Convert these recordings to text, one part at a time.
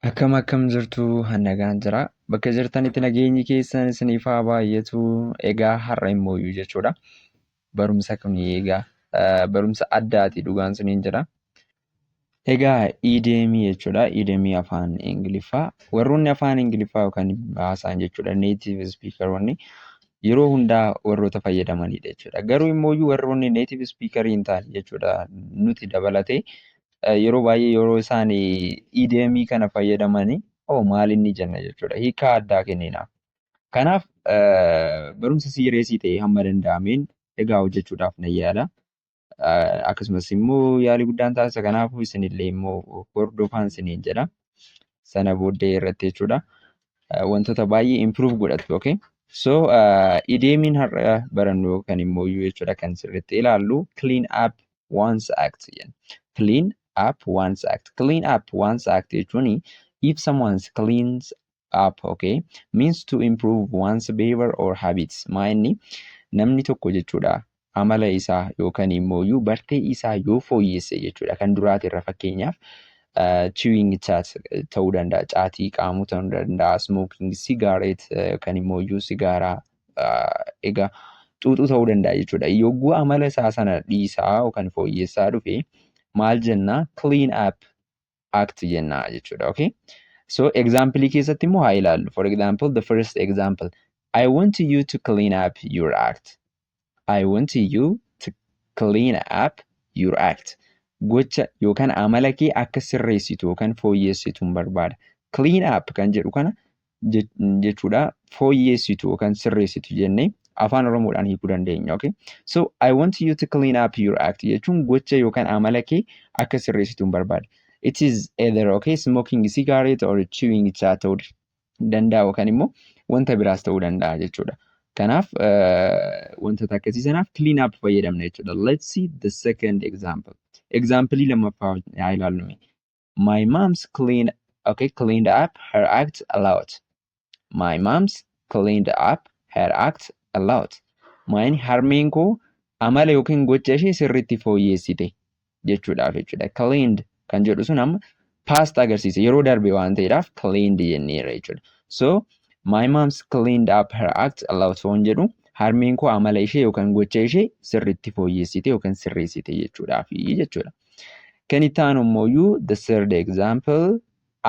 Akkam akkam jirtu hannagaan jira. Bakka jirtanitti nageenyi keessan isiniif haa baay'atu. Egaa har'a immoo iyyuu jechuudha. Barumsa kun egaa eh, barumsa addaati dhugaan suniin jira. Egaa iideemii jechuudha. Iideemii afaan Ingiliffaa. Warroonni afaan Ingiliffaa yookaan haasaan jechuudha. Native speakeronni yeroo hundaa warroota fayyadamanidha jechuudha. Garuu immoo iyyuu warroonni native speaker hin taane jechuudha. Nuti dabalatee yeroo baay'ee yeroo isaan EDM kana fayyadamanii oo maal inni jenna jechuudha hiikaa addaa kenninaaf. Kanaaf barumsa siireesii ta'e hamma danda'ameen egaa hojjechuudhaaf nan yaala. Akkasumas immoo yaalii guddaan taasisa kanaafuu isinillee immoo hordofaan isiniin jedha. Sana booddee irratti jechuudha. Wantoota baay'ee improve godhattu okay. So EDMiin har'a barannu kan immoo jechuudha kan sirriitti ilaallu clean up one's act jenna. Clean up one's act. Clean up one's act jechuun if someone cleans up okay means to improve one's behavior or habits. Maa inni namni tokko jechuudha amala isaa yookaan immoo iyyuu bartee isaa yoo fooyyesse jechuudha kan duraati irra fakkeenyaaf chewing chat ta'uu danda'a caatii qaamuu ta'uu danda'a smoking cigarette kan immoo iyyuu sigaaraa egaa xuuxuu ta'uu danda'a jechuudha. Yogguu amala isaa sana dhiisaa yookaan fooyyessaa dhufe maal jenna clean up act jenna jechuudha. Okay? So example keessatti immoo haa ilaallu. For example the first example I want you to clean up your act. I want you to clean up your act. Gocha yookaan amala kee akka sirreessitu yookaan fooyyessitu barbaada. Clean up kan jedhu kana jechuudha fooyyeessitu yookaan sirreessitu jennee afaan oromoodhaan hiikuu dandeenya okay so i want you to clean up your act jechuun gocha yookaan amala kee akka sirreessitu hin barbaade it is either okay smoking cigarette or chewing chat ta'uu danda'a yookaan immoo wanta biraas ta'uu danda'a jechuudha kanaaf wantoota akkasii sanaaf clean up fayyadamna jechuudha let's see the second example example lammaffaa haa ilaallu My mom's clean okay cleaned up her act a lot. My mom's cleaned up her act a lot. Maayin harmeen koo amala yookiin gocha ishee sirriitti fooyyeessite jechuudhaaf jechuudha. Cleaned kan jedhu sun amma past agarsiisa yeroo darbe waan ta'eedhaaf cleaned jenneerra jechuudha. So my mom's cleaned up her act a lot waan jedhu harmeen koo amala ishee yookiin gocha ishee sirriitti fooyyeessite yookiin sirreessite jechuudhaaf jechuudha. Kan itti aanu immooyyuu the third example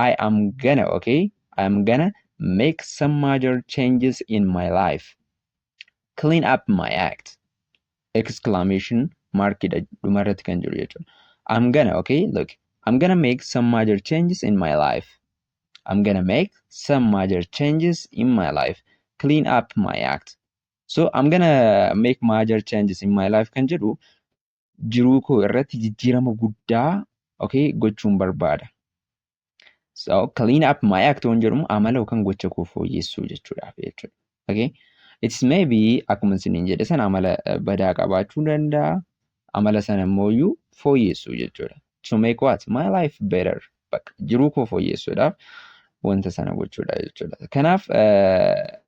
I am gonna okay I am gonna make some major changes in my life clean up my act exclamation mark dha dhuma irratti kan jiru jechuudha. I'm gonna okay look I'm gonna make some major changes in my life I'm gonna make some major changes in my life clean up my act so I'm gonna make major changes in my life kan jedhu jiruu koo irratti jijjiirama guddaa okay gochuun barbaada. So clean up my act waan jedhamu amala yookaan gocha koo fooyyessuu jechuudhaaf jechuudha. Okay. It's maybe akkuma isiniin jedhe sana amala eh, badaa qabaachuu danda'a. Amala sana immoo iyyuu fooyyessuu jechuudha. To make what? My life better. Bakka jiruu koo fooyyessuudhaaf wanta sana gochuudha jechuudha. Kanaaf eh,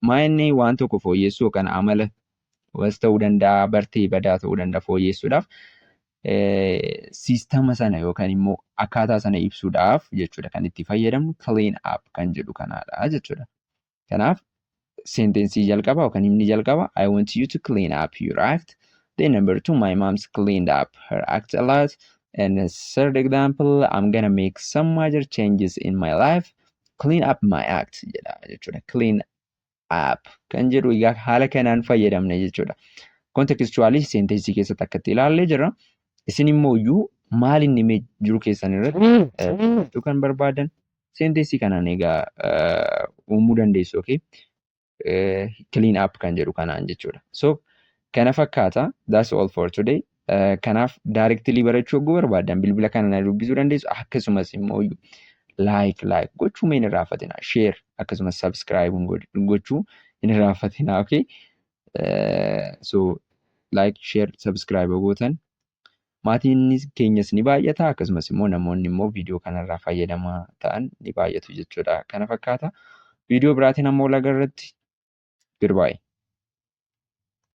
Maa inni waan tokko fooyyessuu yookaan amala was ta'uu danda'a, bartee badaa ta'uu danda'a fooyyessuudhaaf siistama sana yookaan immoo akkaataa sana ibsuudhaaf jechuudha kan itti fayyadamnu clean up kan jedhu kanaadha jechuudha. Kanaaf senteensii jalqaba yookaan himni jalqaba I want you to clean up your act. Then number two my mom's cleaned up her act a lot. And the third example I'm gonna make some major changes in my life. clean up my act jedha jechuudha. Clean up kan jedhu egaa haala kanaan fayyadamna jechuudha. Kontekstuwaalii seenteensii keessatti akkatti ilaallee jirra. Isin immoo iyyuu maal inni mee jiru keessan irratti jechuu kan barbaadan seenteensii kanaan egaa uumuu dandeessu. Okay? clean up kan jedhu kanaan jechuudha. So kana fakkaata that's all for today. Kanaaf directly barachuu oguu barbaadan bilbila kana na dubbisuu dandeessu akkasumas immoo like like gochuu mee hin irraanfatina share akkasumas subscribe gochuu hin irraanfatina okay. So like share subscribe gootan maatiin keenyas ni baay'ata akkasumas immoo namoonni immoo viidiyoo kanarraa fayyadamaa ta'an ni baay'atu jechuudha kana fakkaata viidiyoo biraatiin ammoo lagarratti goodbye.